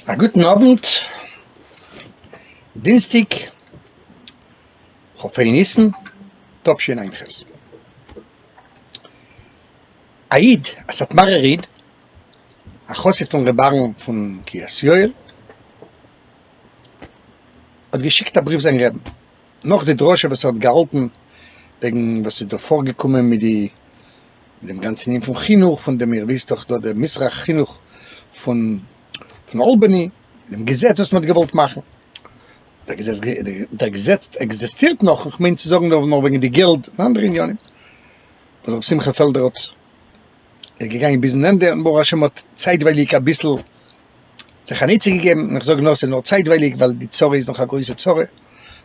א גוטן אוונט, דינסטיג כ ה ניסן תשענ ח, א איד, א סאטמארער איד, א חסיד פון ר' אהרן פון קרית יואל, האט געשיקט א בריוו זיין רעבן, נאך די דרשה וואס ער האט געהאלטן וועגן וואס איז דא פארגעקומען מיט די. אין דעם גאנצן ענין פון חינוך, פון דעם איר וויסט דאך דא דער מזרח חינוך פון פון אלבאני, דעם געזעץ וואס מען האט געוואלט מאכן, דער געזעץ דער געזעץ עקזעסטירט נאך, איך מיין צו זאגן דא נאר וועגן די געלד און אנדערע עניינים, וואס רבי שמחה פעלדער האט, איז געגאנגען ביזן ענדע, און ברוך השם האט צייטווייליג אביסל זיך אן עצה געגעבן, און איך זאג נאר ס'איז נאר צייטווייליג ווייל די צרה איז נאך א גרויסע צרה,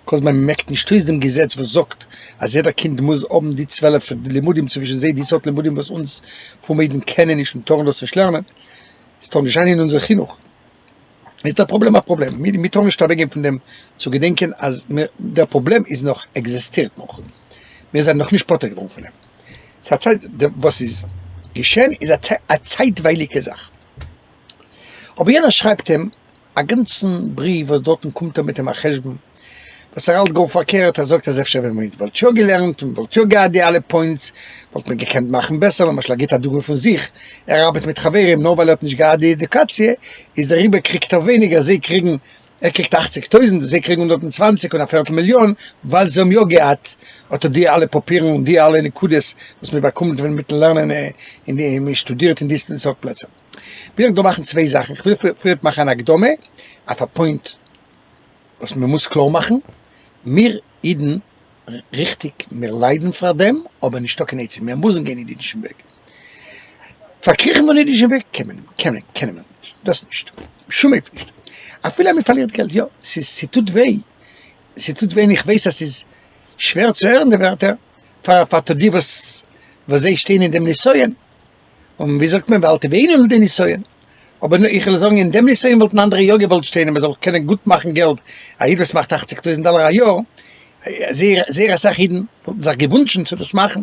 כל זמן מ'מעקט נישט אויס דעם געזעץ וואס זאגט אז יעדער קינד מוז האבן די צוועלף לימודים צווישן זיי די סארט לימודים וואס אונז פרומע אידן קענען נישט און טארן דאס נישט לערנען, עס טאר נישט זיין אין אונזער חינוך, איז דער פראבלעם א פראבלעם, מיר טארן נישט אוועקגיין פון דעם צו געדענקען אז דער פראבלעם איז נאך, עקזעסטירט נאך, מיר זענען נאכנישט פטור געווארן פון אים, ס'איז א צייט, וואס איז געשען איז א צייטווייליגע זאך. אבער יענער שרייבט אים א גאנצן בריוו וואס דארטן קומט ער מיט אים א חשבון וואס ער האלט גאר פארקערט, ער זאגט אז אפשר ווען מען וואלט יא געלערנט און מען וואלט יא געהאט די אלע פוינטס וואלט מען געקענט מאכן בעסער, למשל ער גיבט א דוגמא פון זיך, ער ארבעט מיט חברים נאר ווייל ער האט נישט געהאט די עדיוקאציע איז דעריבער קריגט ער ווייניגער זיי קריגן. ער קריגט אַכציק טויזענט, זיי קריגן הונדערט און צוואַנציק און א פערטל מיליאן, ווייל זיי האבן יא געהאט אט די אלע פאפירן און די אלע נקודות וואס מען באקומט ווען מיטן לערנען אין די מען שטודירט אין די סארט פלעצער. וויל איך דא מאכן צוויי זאכן, איך וויל פריערט מאכן אן הקדמה אויף א פוינט וואס מען מוז קלאר מאכן, מיר אידן, ריכטיג מיר ליידן פאר דעם, אבער נישטא קיין עצה, מיר מוזן גיין אין אידישן וועג, פארקריכן פון אידישן וועג קען מען קען מען קען מען נישט, דאס נישט, בשום אופן נישט, אפילו אז מען פארלירט געלט יא, ס'איז ס'טוט וויי, ס'טוט וויי און איך ווייס אז ס'איז שווער צו הערן די ווערטער פאר פאר די וואס וואס זיי שטייען אין דעם נסיון, און ווי זאגט מען ואל תביאנו לידי נסיון, אבער איך וויל זאגן אין דעם נסיון וואלטן אנדערע יא געוואלט שטיין אז מען זאל קענען גוט מאכן געלט, א איד וואס מאכט אַכציק טויזנט דאלער א יאר, זייער זייער אסאך אידן וואלטן זיך געוואונטשן צו דאס מאכן.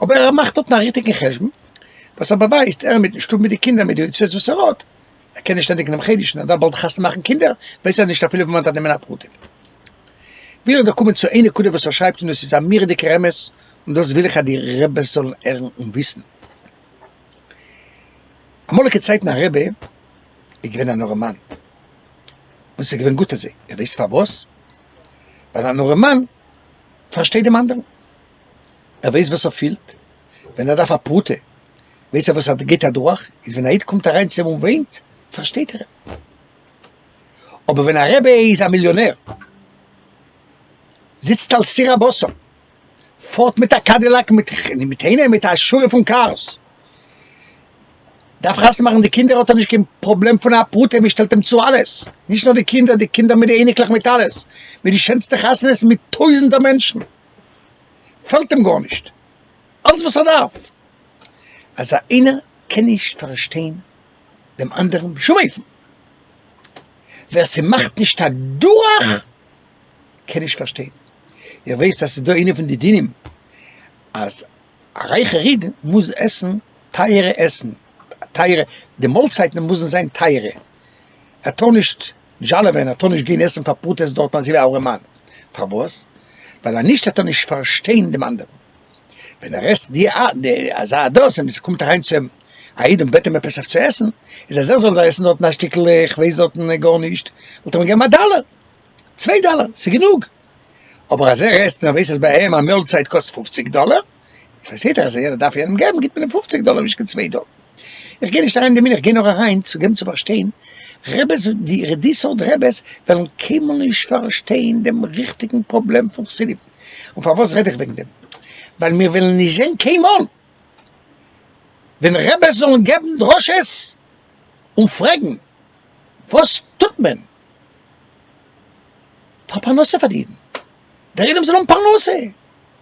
אבער ער מאכט דארטן א ריכטיגן חשבון וואס ער באווייזט, ער מיטן שטוב מיט די קינדער מיט די הוצאות וואס ער האט, ער קען נישט ענדיגן דעם חודש און ער דארף באלד חתונה מאכן קינדער, ווייסט ער נישט אפילו וואו מען דארף נעמען א פרטים. וויל איך דא קומען צו איין נקודה וואס ער שרייבט און דאס איז א מורא'דיגער אמת און דאס וויל איך אז די רעבעס זאלן הערן און וויסן. אמאליגע צייטן א רעבע איז געווען אן ארעמאן און ס'איז געווען גוט אזוי, איר ווייסט פארוואס? ווייל אן ארעמאן פארשטייט דעם אנדערן. ער ווייסט וואס ער פילט ווען ער דארף א פרוטה, ווייסט ער וואס ער גייט אדורך, איז ווען א איד קומט אריין צו אים און וויינט, פארשטייט ער אים. אבער ווען א רבי איז א מיליאנער, זיצט על סיר הבשר, פארט מיט א קאדילאק מיט אינעם מיט א שורה פון קארס, דארף חתונה מאכן די קינדער, האט ער נישט קיין פראבלעם פון א פרוטה, מען שטעלט אים צו אלעס, נישט נאר די קינדער, די קינדער מיט די אייניקלעך מיט אלעס, מיט די שענסטע חתונות מיט טויזנטער מענטשן. פעלט אים גארנישט, אלעס וואס ער דארף אז איינער קען נישט פארשטיין דעם אנדערן בשום אופן, ווער ס'מאכט נישט א דורך קען נישט פארשטיין, איר ווייסט אז ס'איז דא איינע פון די דינים אז א רייכער איד מוז עסן טייערע עסן, טייערע, די מאלצייטן מוזן זיין טייערע, ער טאר נישט דזשאלעווען האט אנישט געהן עסן פאר פרוטות דארטן אזוי ווי אהרעמאן, פארוואס? ווייל אנישט וועט ער נישט פארשטיין דעם אנדערן, ווען ער עסט די די אזא אדרעס און עס קומט אריין צו אים א איד און בעט אים עפעס אויף צו עסן, איז אז ער זאל זיי עסן דארטן א שטיקל איך ווייס דארטן גארנישט, וואלט ער אים געגעבן א דאלער, צוויי דאלער, ס'איז גענוג, אבער אז ער עסט און ער ווייס אז ביי אים א מאלצייט קאסט פופציג דאלער, פארשטייט זיך אז איידער דארף יענעם געבן גיבט מען אים פופציג דאלער נישט קיין צוויי דאלער, איך גיי נישט אריין אין די מנין איך גיי נאר אריין צו געבן צו פארשטיין רעבעס די די סארט רעבעס וועלן קיינמאל נישט פארשטיין דעם ריכטיגן פראבלעם פון חסידים, און פארוואס רעד איך וועגן דעם ווייל מיר וועלן נישט זען קיינמאל ווען רעבעס זאלן געבן דרשות און פרעגן וואס טוט מען פאר פרנסה פאר די אידן די רעבען זאל האבן פרנסה.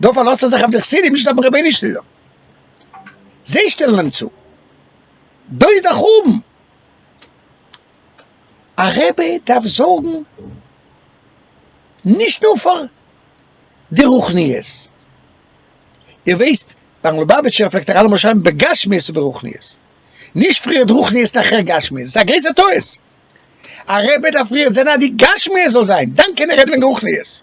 דא פארלאזט ער זיך אויף די חסידים נישט אויפן רבי'ן שליטא, זיי שטעלן אים צו, דא איז דער חורבן, א רבי דארף זארגן נישט נאר פאר די רוחניות, איר ווייסט ביים לובאוויטשער פלעגט ער אלעמאל שרייבן בגשמיות וברוחניות, נישט פריערט רוחניות נאכער גשמיות, ס'איז א גרויסער טעות, א רבי דארף פריערט זען אז די גשמיות זאל זיין, דאן קען ער רעדן וועגן רוחניות.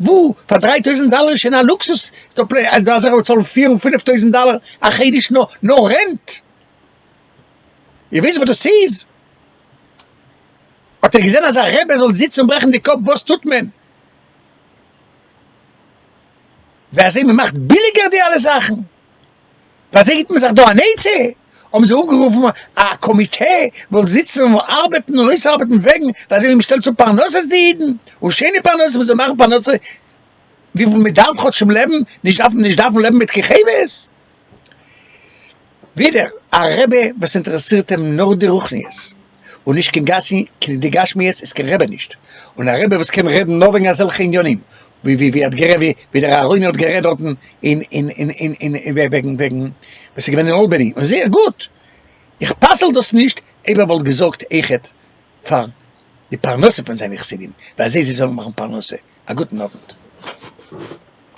וואו פאר דריי טויזענט דאלער איז שוין א לוקסוס, איז דא פלענער אז דא אזעלכע וואס צאלן פיר און פינעף טויזענט דאלער א חודש נאר נאר רענט? איר וויסט וואס דאס איז? האט איר געזען אזא רבי זאל זיצן און ברעכן די קאפ וואס טוט מען? ווי אזוי מען מאכט ביליגער די אלע זאכן? באזעגט מען זיך דא אן עצה, האבן זיי אפגערופן א קאמיטע וואס זאל זיצן און ארבעטן און אויסארבעטן וועגן ווייזען ווי מ'שטעלט צו פרנסות די אידן, און שיינע פרנסות מ'זאל מאכן פרנסה וויפיל מ'דארף כאטשמ לעבן, נישט דארפן נישט דארפן לעבן מיט כיכבות. ווידער א רעבע וואס אינטערעסירט אים נאר די רוחניות, און נישט קיין גשמיות איז קיין רעבע נישט, און א רעבע וואס קען רעדן נאר וועגן אזעלכע עניינים, ווי ווי ווי ער האט גערעדט ווי ווי דער אהרוני האט גערעדט דארטן אין אין אין אין אין וועגן וועגן וואס איז געווען אין אלבעני און זייער גוט איך פסל דאס נישט אויב ער וואלט געזארגט אויכעט פאר די פרנסה פון זיינע חסידים ווי אזוי זיי זאלן מאכן פרנסה א גוטן אוונט.